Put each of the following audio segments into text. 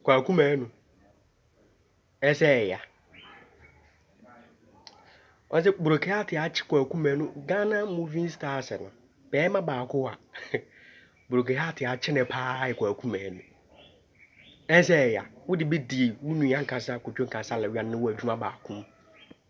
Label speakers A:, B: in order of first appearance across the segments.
A: Kwaku Manu ɛsɛ ɛya. Ɔsɛ Brokeyate akye Kwaku Manu Ghana moving stars no bɛɛma baako a Brokeyate akye ne paa yɛ Kwaku Manu ɛsɛ ɛya wode bɛdi wo nua nkasa Kotwo Nkansah Lawian ne wo adwuma baako mu.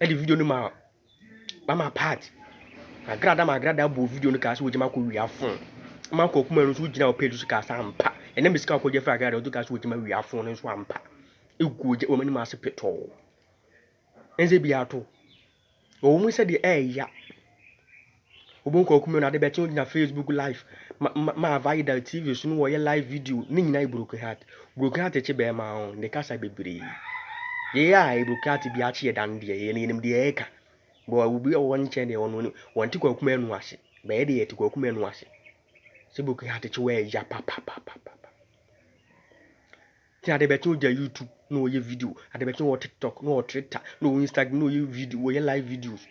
A: Ɛde video no maa mama part. Magrada magrada bɔɔ video no kaa sɛ wɔgyama kɔ wia fon. Ama nkɔ kuma no nso wogyina wɔ page so kaa sɛ ampa. Ɛnɛ mesika ɔkɔ gya fira agrada ɔde kaa sɛ wɔgyama wia fon no nso ampa. Egu ogya wɔn anim ase petɔɔ. Ɛnze bi ato. Wɔn mu sɛ deɛ ɛɛya. Obohu Kwaku Menu ade bɛkye ogyina Facebook live ma ma ma Avaida TV so no wɔyɛ live video ne nyinaa yɛ broken heart. Broken heart kye bɛɛma a ɔn de kasa bebree. Yɛyɛ a yɛ broken heart biara kye yɛ dan deɛ yɛ no yɛnim deɛ yɛka. Bɔ obi a ɔwɔ nkyɛn deɛ ɔno no wɔnte Kwaku Menu ase. Bɛ yɛ deɛ yɛte Kwaku Menu ase. Sɛ broken heart kye wo a ɛya papapapapapa. Ntsi adebɛkye ɔgya YouTube na ɔyɛ video, adebɛkye ɔwɔ TikTok na ɔwɔ Twitter na ɔwɔ Instagram na ɔyɛ video, ɔyɛ live videos.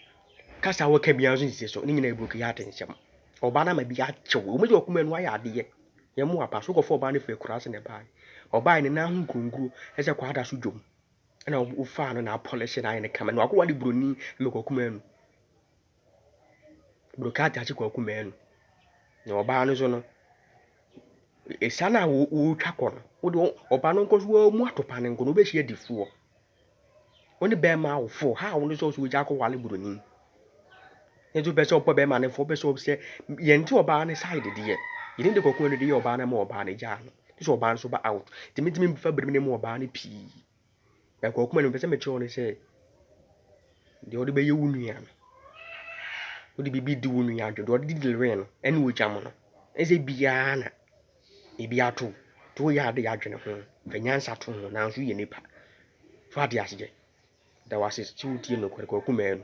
A: Kasa a ɔka biara so nnsi so, ne nyina yɛ brokeyard nsɛm. Ɔbaa no ama bi akyew, ɔwɔ mu dɛ ɔkoma enu ayɛ adeyɛ. Nyɛmmoa pa, so kɔfa ɔbaa no fri ekuraase na ɛbaae. Ɔbaae no n'aho nkuronkuro ɛsɛ kɔ ada so dwom. Ɛna ɔfaa no na apolish no ayɛ no kama, na wakɔ ware broni, Mekwa Kumanu. Brokah Takye Kwaku Manu na ɔbaa no so no, ɛsiane a wɔretwa kɔ no, wode ɔba no nkɔ so wɔamu atopa no nkɔ no, wobɛhyia difoɔ. Wo ne bɛrima awofoɔ, ha a wo ne sɛ ɔsɛ wogya akɔwale buroni. Ne nso pɛ sɛ ɔpɔ bɛrima no fo, ɔpɛ sɛ ɔsɛ yɛn ti ɔbaa no side deɛ. Yɛn de kɔkɔɔ no de yɛ ɔbaa no ama ɔbaa no gyaa no. Sɛ ɔbaa no so ba out. Tìmítìmí fa biribi ne mu ɔbaa no pii. Na nka ɔkoma no mepɛ sɛ mekyerɛ wo ne sɛ deɛ wode bɛyɛ wo nua no wode biribi di wo nua adwo deɛ ɔde di lewee no ɛne ogya mu no ɛsɛ biara na ebi ato to woyɛ ade yɛ adwene ho fa nyansa to ho nanso yɛ nipa so ade aseɛ da wase sɛ wotie nokorɛ kɔkoma no